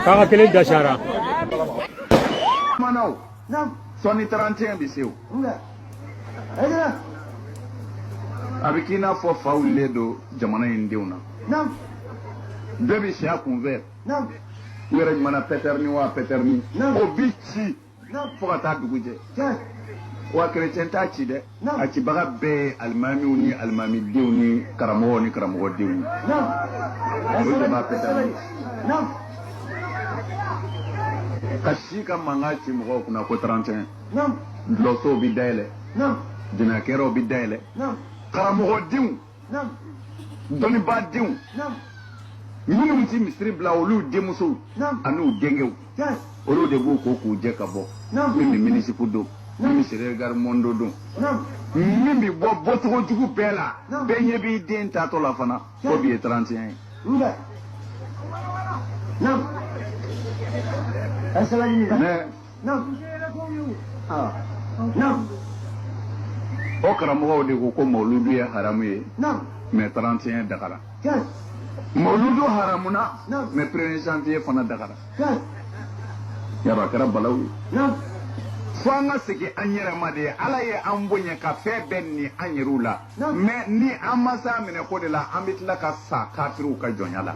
Kaka kelen dasiyara. Kumana o. Sɔɔni 31 bɛ se o. A bɛ k'i n'a fɔ fa wulilen don jamana in denw na. Bɛɛ bɛ siya kunfɛ. U yɛrɛ ɲuman na pɛtɛrɛni wa pɛtɛrɛni. O bi ci. fo ka taa dugu jɛ wa kerecɛn t'a ci dɛ a cibaga bɛɛ ye alimamiw ni alimamidenw ni karamɔgɔ ni karamɔgɔdenw ye o de bɛ pɛtɛrɛni ka si ka mankan ci mɔgɔw kunna ko 31 dɔlɔsow bi dayɛlɛ jinakɛyɔrɔw bi dayɛlɛ karamɔgɔdenw dɔnnibaa denw minnu ti misiri bila olu denmusow an'u denkɛw olu de b'u ko k'u jɛ ka bɔ min bɛ mini-jupe don min bɛ chéri regarde mon dos don min bɛ bɔ bɔcogo jugu bɛɛ la bɛɛ ɲɛ b'i den taatɔ la fana ko bi ye 31 ye. Mais na na o karamɔgɔw de ko ko mawuludu ye haramu ye mais 31 dagara mawuludu haramuna mais premier janvier fana dagara yaba kɛra balawu ye fo an ka segin an yɛrɛ ma de ala ye an bonya ka fɛn bɛɛ ni an yɛrɛw la mais ni an ma s'a minɛko de la an bɛ tila ka sa kafiriw ka jɔnya la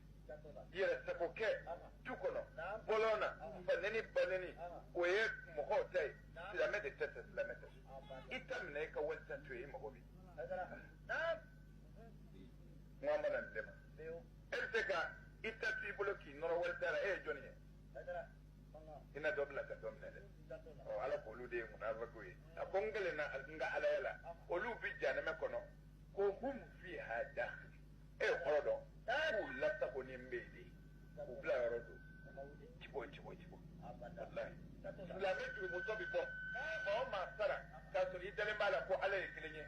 yɛrɛ sago kɛ du kɔnɔ bɔlɔn na faneni baneni o ye mɔgɔw ta ye silamɛ de ta tɛ silamɛ tɛ i ta minɛ i ka wali ta to yen i mago bi kuma mana bɛɛ ma e bɛ se ka i ta to i bolo k'i nɔrɔ wali ta la e ye jɔnni ye i na dɔ bila ka dɔ minɛ dɛ ɔ ala k'olu de ye munafakiw ye a ko n kalen na n ka alaya la olu bi jahanamɛ kɔnɔ ko hum fiha dakhil e y'o kɔrɔ dɔn k'u lasagonen bɛ yen de k'u bila yɔrɔ don u ti bɔ u ti bɔ u ti bɔ walayi silamɛ jurumutɔ bɛ bɔ maa o maa sara k'a sɔrɔ i dalen b'a la ko ala ye kelen ye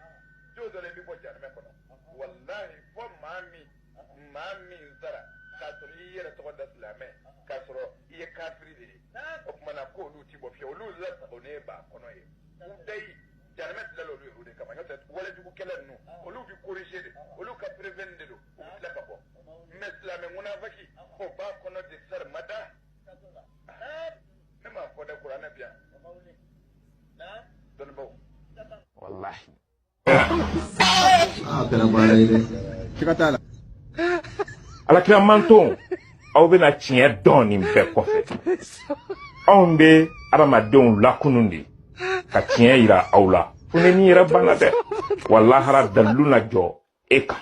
don dɔ la i bɛ bɔ jahanamɛ kɔnɔ walayi fo maa min maa min sara k'a sɔrɔ i y'i yɛrɛ tɔgɔ da silamɛ k'a sɔrɔ i ye kafiri de ye o tuma na ko olu ti bɔ fiyewu olu lasagonen b'a kɔnɔ ye u dayi jahanamɛ dilala olu ye o de kama n'o tɛ walejugukɛla ninnu olu bɛ corriger de olu ka prévenir de don u bɛ tila ka bɔ mais silamɛ munafaki o b'a kɔnɔ de sarimada ne m'a fɔ dɛ kuranɛ bi yan dɔnnibaw walahi a kɛra baara ye dɛ siga t'a la ala kira man tɔn aw bɛna tiɲɛ dɔn nin bɛɛ kɔfɛ anw bɛ adamadenw lakunun de ka tiɲɛ yira aw la fo n'i yɛrɛ banna dɛ wa lahara dalilu na jɔ e kan